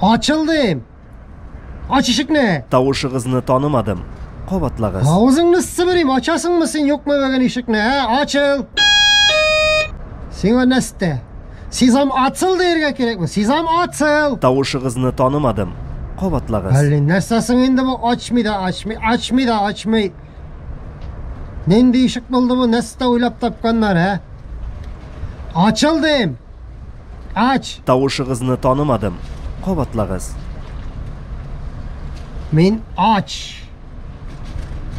Ачылдым. Ач ишекне. Тавышыгызны танымадым. Кабатлагыз. Авызыңны сыбырым, ачасыңмы син юкмы бүген ишекне, ә? Ачыл. Сиңа нәрсә? Сезам ацыл дияргә кирәкме? Сезам ацыл. Тавышыгызны танымадым. Кабатлагыз. Әллә нәрсә соң инде бу ачмый да, ачмый, ачмый да, ачмый. Нинди ишек булды бу? Нәрсә уйлап тапканнар, ә? Ачылдым. Ач! Тавышыгызны танымадым. Кабатлагыз. Мин ач.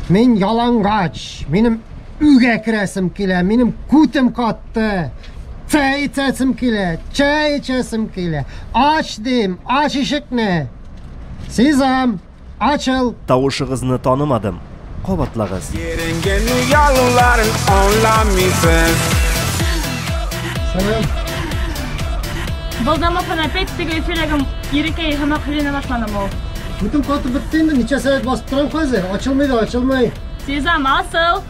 Мин ялангач. Минем өйгә керәсем килә. Минем күтем катты. Чәй эчәсем килә. Чәй эчәсем килә. Ач дим. Ач ишекне. Сизам. Ачыл! Тавышыгызны танымадым, кабатлагыз. Йөргән ялларын аңламыйсыз. Сәлам. Балдамасын опять теге эфирәгем ирекәй һәм ахрина башлана мол. Бүтән каты бетте инде, ничә сәгать басып торам хәзер, ачылмый да ачылмый. Сезам асыл!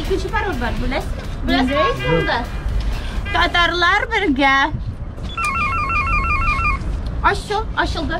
Икенче пароль бар, беләсең? Беләсең монда? Татарлар бергә. Ачу, ачылды.